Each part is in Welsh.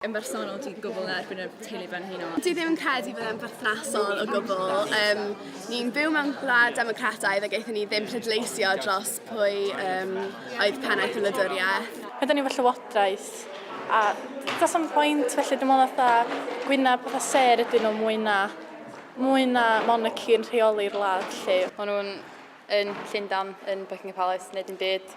yn bersonol dwi'n gwbl yn erbyn y teulu brenhinol. Dwi ddim yn credu bod e'n berthnasol o gwbl. Um, ni'n byw mewn gwlad democrataidd a gaethon ni ddim pleidleisio dros pwy um, oedd pennaeth y wladwriaeth. Ydyn ni fy llywodraeth a does am pwynt felly dim ond fatha gwyna pethau ser ydyn nhw mwy na mwy na monarchy yn rheoli'r wlad lle. Maen nhw'n yn Llundan, yn Buckingham Palace, neu dim byd.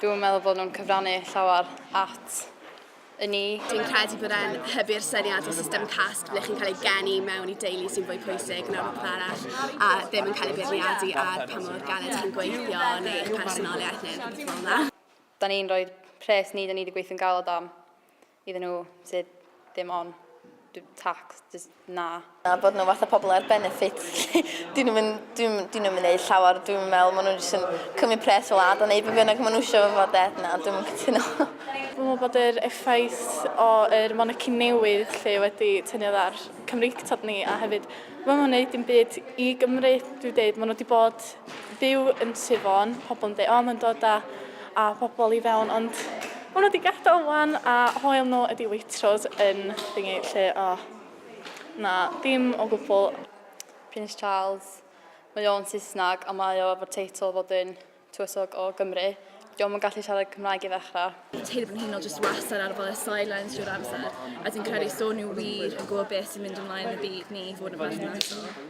Dwi'n meddwl bod nhw'n cyfrannu llawer at y ni. Dwi'n credu bod e'n hybu'r syniad o system cast ble chi'n cael ei geni mewn i deulu sy'n fwy pwysig na'r rhywbeth arall a ddim yn cael ei beirniadu ar pa mor galed chi'n gweithio neu eich personoliaeth neu rhywbeth fel yna. Da ni'n rhoi pres ni da ni wedi gweithio'n galed am iddyn nhw sydd ddim on tax. na. A bod nhw fatha pobl ar benefits 'lly. Dyn nhw'm yn, dyn nhw'm, dyn nhw'm yn neud llawer dwi 'n me'wl ma' nhw jyst yn cymryd pres fel ardd a neud be' bynnag ma' nhw isio efo fo 'de. Na dwi'm yn cytuno. Dwi me'wl bod yr effaith o yr monarchy newydd 'lly wedi tynnu oddi ar Cymreictod ni a hefyd ma' nhw'm yn neud dim byd i Gymru dwi deud ma' nhw 'di bod byw yn Sir Fôn, pobl yn dweud, o mae'n dod â, â pobl i fewn, ond maen nhw wedi gadael wan a hoel nhw ydi Waitrose yn thingy lle, o, na, dim o gwbl. Prince Charles, mae o'n Saesneg a mae o efo'r teitl fod yn tywysog o Gymru. Diolch yn gallu siarad Cymraeg i ddechrau. Teulu fy nhîn o jyst wastad ar ôl y sidelines drwy'r amser a dwi'n credu so nhw wir yn gwybod beth sy'n mynd ymlaen yn y byd ni i fod yn berthnasol.